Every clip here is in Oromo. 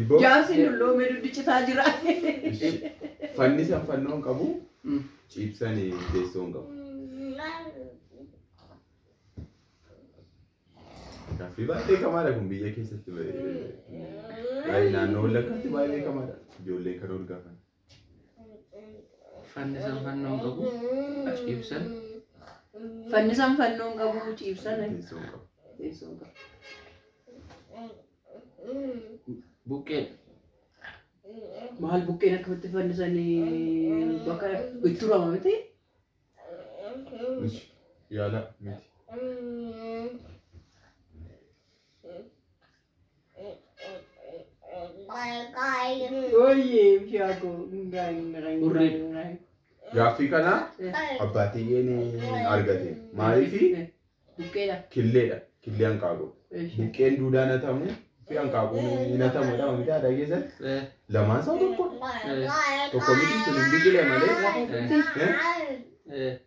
Ibboo. Jaarsi dulloomee duddi citaa jira. Fannisan fannoo hin qabu. Mm. Ciibsan teessoo hin qabu. Gaaffii baay'ee beekamaadha kun biyya keessatti. Baay'ee naannoo wallaggaatti baay'ee beekamaadha. Ijoolleen kan ol gaafan. Fannisan fannoo hin qabu. Ciibsan. Fannisan fannoo hin qabu ciibsan. Teessoo hin qabu. Teessoo hin qabu. Buqqeen. Maal buqqeen akkamitti fannisanii bakka itti turama miti? Mishi. Yaala miti. Hurrii gaaffii kana abbaa tiyyeen argate maaliifi killeedha killee hanqaaquu buqqeen duudaan hatamu fi hanqaaquun hin hatamudha wanti aadaa keessan lamaan isaa tokko tokko miti sun hin biqile malee Eh?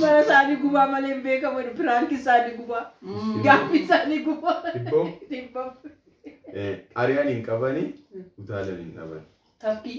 Mana isaanii gubaa malee hin beekamu jedhu. Piraanki isaanii gubaa. Gaaffi isaanii gubaa. Dhibboo? Dhibboo. Ari'an hin qabani utaalan hin dhaban. Tafkii.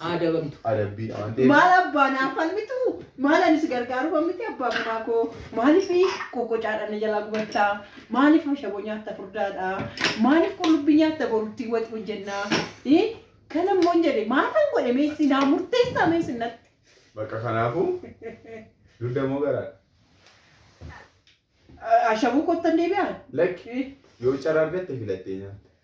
haa adabamtu. adabbii waan ta'eef Maal abbaan haa falmitu? Maal ani si gargaaru kan miti abbaa manaa koo? Maaliif qoqqocaadhaan na jalaa gubattaa? Maaliif ashaboo nyaatta furdaadhaa? Maaliif qullubbii nyaatta boruttii waxi hojjennaa? Ii? Kana immoo hin jedhe maalan godhe meessi naa murteessaa meessi natti. bakka kanaafuu dugda moo garaadha Ashaboo kottan deebi'aan? lakki Ii? yoo carraa argatte filattee nyaatte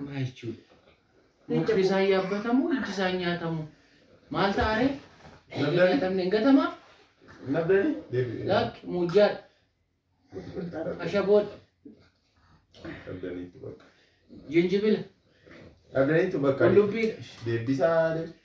Maa jechuudha? Mukti isaa hin yaabbatamu, ijji isaa hin nyaatamu. Maal ta'a ree? Hin nyaatamne hin gatamaa? Nabdani? Deebi'ee. Lakki muujjaadha. Ashaboodha. Nabdaniitu bakka. Jinjibila. Nabdaniitu bakka. Qullubbiidha. Deebisaa deebi.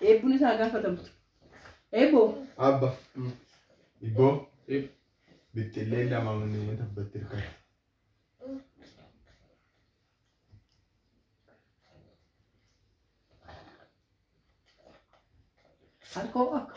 Eebbuun isaa gaafatamu. Eebboo. Abba. Ibboo. Bixxillee lama manneen tabbatti hirkate. Harkoo akka.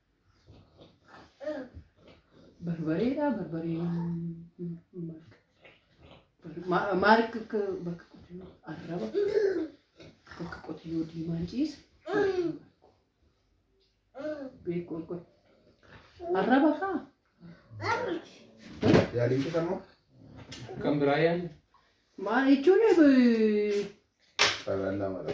Barbareedha barbareen maal akka bakka qotiyyoo arraba bakka qotiyyoo diimaan ciisa beeku akka arraba kaa Yaaliin kisa moo? Kan biraa yaali. maal jechuun Carraan lama dha.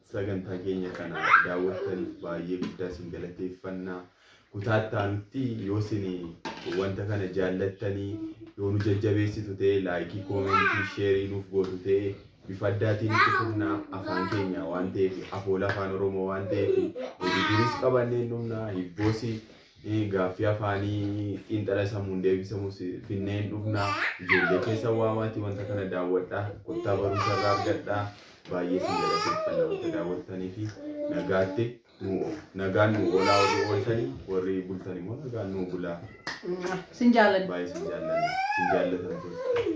Sagantaa keenya kana daawwattaniif baay'ee guddaa isin galateeffanna. Kutaa itti aanutti yoo isin wanta kana jaallattanii yoo nu jajjabeessitu ta'e laayikii, koomentii, sheerii nuuf gootu ta'e bifa addaatiin itti fufna afaan keenya waan ta'eef afoola afaan Oromoo waan ta'eef hojii duris qabannee hin dhumna hibboos Gaaffii afaanii xiinxala sammuun deebisamus binnee hin dhugna. Ijoollee keessan waamaatii wanta kana daawwadhaa. Kottaa barumsa irraa argadhaa. Baay'ee isin galateeffanna wanta daawwattaniif. Nagaatti nuu o- nagaan nuu oolaa warri ooltanii warri bultan immoo nagaan nuu bulaa. Sin jaalanna. Baay'ee isin jaallanna. Isin jaallatamtoota.